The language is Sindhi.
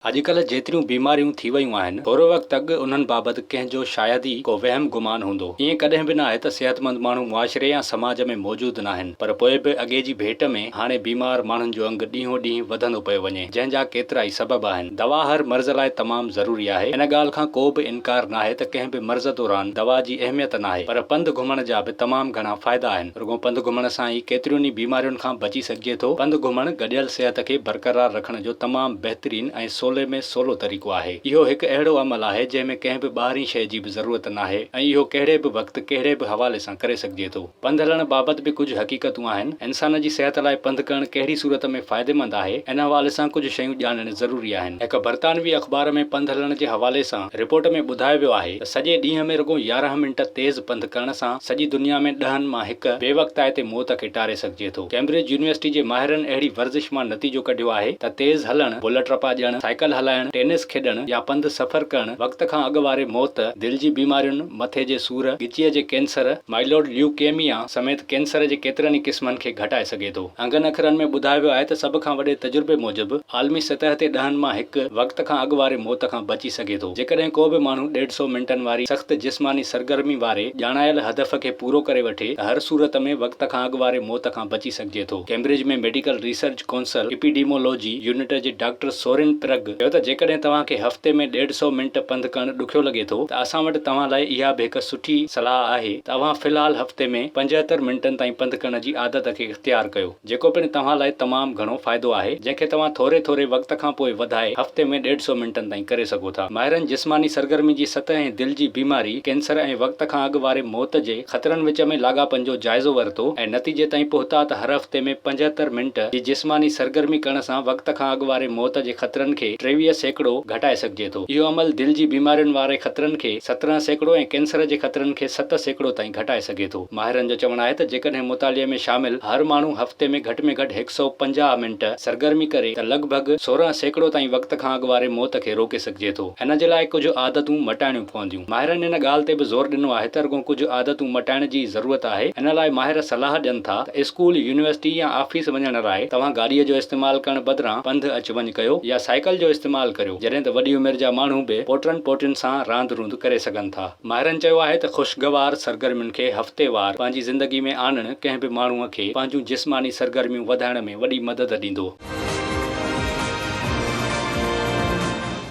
اڄڪلهه جيتريون بيماريون ٿي ويون آهن، ٿورو وقت اڳ انهن بابت ڪنهن جو شايد ئي ڪو وهم گمان هوندو. ائين ڪڏهن به ناهي ته صحتمند ماڻهو معاشري يا سماج ۾ موجود ناهن، پر پوء به اڳي جي ڀيٽ ۾ هاڻي بيمار ماڻهن جو انگ ڏينهون ڏينهن وڌندو پيو وڃي، جنهن جا ڪيترائي سبب آهن. دوا هر مرض لاء تمام ضروري آهي، ان ڳالهه کان ڪو به انڪار ناهي ته ڪنهن به مرض دوران دوا جي اهميت ناهي، پر پنڌ گهمڻ جا به تمام گهڻا فائدا آهن. رڳو پنڌ گهمڻ سان ئي ڪيترين ئي بيمارين کان بچي سگهجي ٿو. پنڌ گهمڻ گڏيل صحت کي برقرار رکڻ جو تمام بهترين ۽ سولي ۾ سولو طريقو آهي. اهو هڪ اهڙو عمل آهي جنهن ۾ ڪنهن به ٻاهرين شيء جي به ضرورت ناهي ۽ اهو ڪهڙي به وقت ڪهڙي به حوالي سان ڪري سگهجي ٿو. پنڌ هلڻ بابت به ڪجهه حقيقتون آهن. انسان جي صحت لاء پنڌ ڪرڻ ڪهڙي صورت ۾ فائديمند آهي ان حوالي سان ڪجهه شيون ڄاڻڻ ضروري آهن. هڪ برطانوي اخبار ۾ پنڌ هلڻ جي حوالي سان رپورٽ ۾ ٻڌايو ويو آهي سڄي ڏينهن ۾ رڳو يارهن منٽ تيز پنڌ ڪرڻ سان سڄي دنيا ۾ ڏهن مان هڪ بي وقتائي تي موت کي ٽاري سگهجي ٿو. ڪيمبرج يونيورسٽي جي ماهرن اهڙي ورزش مان نتيجو ڪڍيو آهي ته تيز هلڻ، بلٽ رپا ڄڻ، سائيڪل هلائڻ، ٽينس کيڏڻ يا پنڌ سفر ڪرڻ وقت کان اڳ واري موت، دل جي بيمارين، مٿي جي سور، ڳچيء جي ڪينسر، Myeloid Leukemia، سميت ڪينسر جي ڪيترن ئي قسمن کي گهٽائي سگهي ٿو. انگن اکرن ۾ ٻڌايو ويو آهي ته سڀ کان وڏي تجربي موجب عالمي سطح تي ڏهن مان هڪ وقت کان اڳ واري موت کان بچي سگهي ٿو جيڪڏهن ڪو به ماڻهو ڏيڍ سؤ منٽن واري سخت جسماني سرگرمي واري ڄاڻايل هدف کي پورو ڪري وٺي ته هر صورت ۾ وقت کان اڳ واري موت کان بچي سگهجي ٿو Cambridge ۾ medical research council epidemiology unit جي ڊاڪٽر سورين پرگ چيو ته جيڪڏهن توهان کي هفتي ۾ ڏيڍ سئو منٽ پنڌ ڪرڻ ڏکيو لڳي ٿو ته اسان وٽ توهان لاء اها به هڪ سٺي صلاح آهي ته اوهان في الحال هفتي ۾ پنجهتر منٽن تائين پنڌ ڪرڻ جي عادت کي اختيار ڪيو جيڪو پڻ توهان لاء تمام گهڻو فائدو آهي جنهن کي توهان ٿوري ٿوري وقت کان پوء وڌائي هفتي ۾ ڏيڍ سئو منٽن تائين ڪري سگهو ٿا ماهرن جسماني سرگرمي جي سطح ۽ دل جي بيماري، ڪينسر ۽ وقت کان اڳ واري موت جي. خطرن وچ ۾ لاڳاپن جو جائزو ورتو ۽ نتيجي تائين پهتا ته هر هفتي ۾ پنجهتر منٽ جي جسماني سرگرمي ڪرڻ سان وقت کان اڳ واري موت جي خطرن کي ٽيويهه سيڪڙو گهٽائي سگهجي ٿو. اهو عمل دل جي بيمارين واري خطرن کي سترهن سيڪڙو ۽ ڪينسر جي خطرن کي ست سيڪڙو تائين گهٽائي سگهي ٿو. ماهرن جو چوڻ آهي ته جيڪڏهن مطالعي ۾ شامل هر ماڻهو هفتي ۾ گهٽ ۾ گهٽ هڪ سئو پنجاهه منٽ سرگرمي ڪري ته لڳ ڀڳ سورهن سيڪڙو تائين وقت کان اڳ واري موت کي روڪي سگهجي ٿو. ان جي لاء ڪجهه عادتون مٽائڻيون پونديون. ماهرن ان ڳالهه تي به زور ڏنو آهي ته رڳو ڪجهه عادتون مٽائڻ جي ئي ضرورت آهي، ان لاء ماهر صلاح ڏين ٿا ته اسڪول، يونيورسٽي يا آفيس وڃڻ لاء توهان گاڏيء جو استعمال ڪرڻ بدران پنڌ اچ وڃ ڪيو يا سائيڪل جو استعمال ڪريو، جڏهن ته وڏي عمر جا ماڻهو به پوٽرن پوٽرين سان راند روند ڪري سگهن ٿا. ماهرن چيو آهي ته خوشگوار سرگرمين کي هفتيوار پنهنجي زندگي ۾ آڻڻ ڪنهن به ماڻهوء کي پنهنجون جسماني سرگرميون وڌائڻ ۾ وڏي مدد ڏيندو.